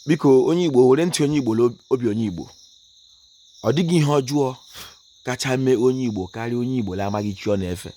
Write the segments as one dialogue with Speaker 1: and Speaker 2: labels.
Speaker 1: biko onye igbo were ntị onye igbo obi onye igbo ọ dịghị ihe ọjọọ kacha mee onye igbo karịa onye igbo na-amaghị chi ọ na-efe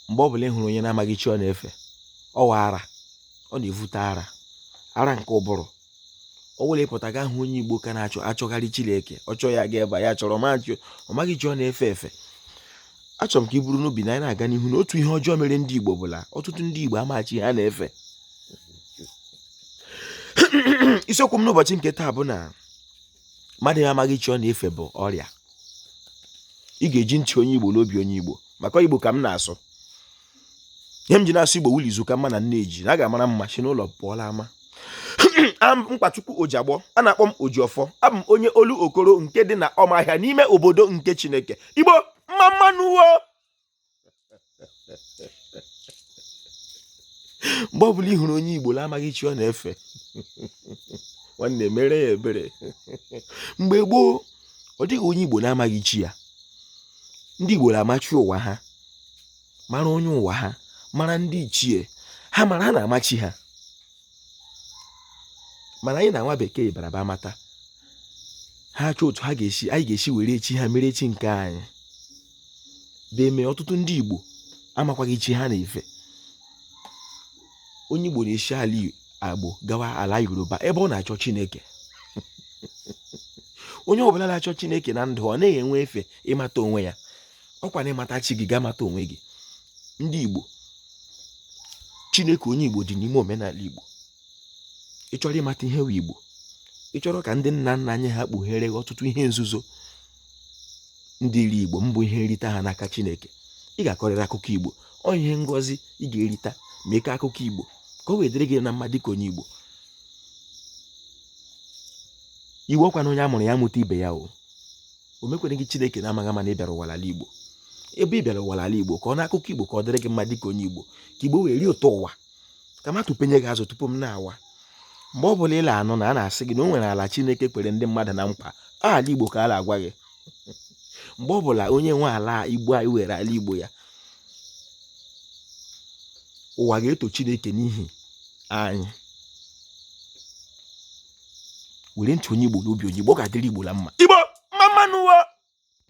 Speaker 1: mgbe ọbụla ị hụrụ onye na-amaghị chi ọ na-efe ọ wụ ara ọ na-evute ara ara nke ụbụrụ ọ wụrụ ị pụta ga-ahụ onye igbo ka na-achọgharị chineke ọ chọọ ya ga ebe ya chọrọ ọ maghị chi ọ na-efe efe achọrọ m ka i buru n'obi na anyị na-aga n'ihu na otu ihe ọjọọ mere ndị igbo bụ la ọtụtụ ndị igbo ama chi ha na-efe isiokwu m n'ụbọchị nke taa bụ na mmadụ amaghị chi ọ na-efe bụ ọrịa ị ga-eji ntị onye igbo n'obi onye igbo maka igbo ka m na-asụ ihe m ji na-asụ igbo wụ la izu ka mma na nne ji na a ga-amara mma si n'ụlọ pụọ la ama am mkpachukwu ojiagbọ a na-akpọ m ojiọfọ abụ m onye olokoro nke dị na ọmahịa n'ime obodo nke chineke igbo mma mma nụ wo mgbe ọ bụla ị hụrụ onye igbo na-amaghị chi ọ na-efe nwanne meere ya ebere mgbe gboo ọ dịghị onye igbo na-amaghị chi ya ndị igbo na-ama chi ụwa ha mara onye ụwa ha mara ndị ichie ha mara ha na-ama chi ha mana anyị na nwa bekee baraba mata ha chọọ otu anyị ga-esi were chi ha mere chi nke anyị ga-eme ọtụtụ ndị Igbo amakwaghị chi ha na-efe onye Igbo na-esi ala Igbo gawa ala Yoruba ebe ọ na-achọ Chineke onye ọbụla na-achọ chineke na ndụ ọ naghị enwe efe ịmata onwe ya ọkwa na ị mata chi gị ị ga-amata onwe gị ndị Igbo Chineke onye Igbo dị n'ime omenala Igbo ị chọrọ ịmata ihe wụ Igbo ị chọrọ ka ndị nna nna anyị ha kpughere ọtụtụ ihe nzuzo dịrị Igbo bụ ihe nrita ha n'aka Chineke ị ga-akọrịrị akụkọ Igbo ọ ihe ngọzi ị ga-erita ma ị kọọ akụkọ Igbo ka o wee dịrị gị na mma dịka onye Igbo Igbo ọkwa na onye a mụrụ ya mụta ibe ya o o mekwereghị chineke na amaghị ama na ị bịara ụwa n'ala igbo ebe ị bịara ụwa n'ala igbo kọọnụ akụkọ igbo ka ọ dịrị gị mma dịka onye igbo ka igbo wee rie ụtọ ụwa ka m atụpenye gị azụ tupu m nawa mgbe ọ bụla ị la-anụ na a na-asị gị na o nwere ala chineke kwere ndị mmadụ na nkwa ala igbo ka a na-agwa gị mgbe ọ bụla onye nwe ala igbo anyị were ala igbo ya ụwa ga-eto chineke n'ihi anyị were ntị onye Igbo n'obi onye Igbo ọ ga-adịrị Igbo na mma Igbo mma mma nụ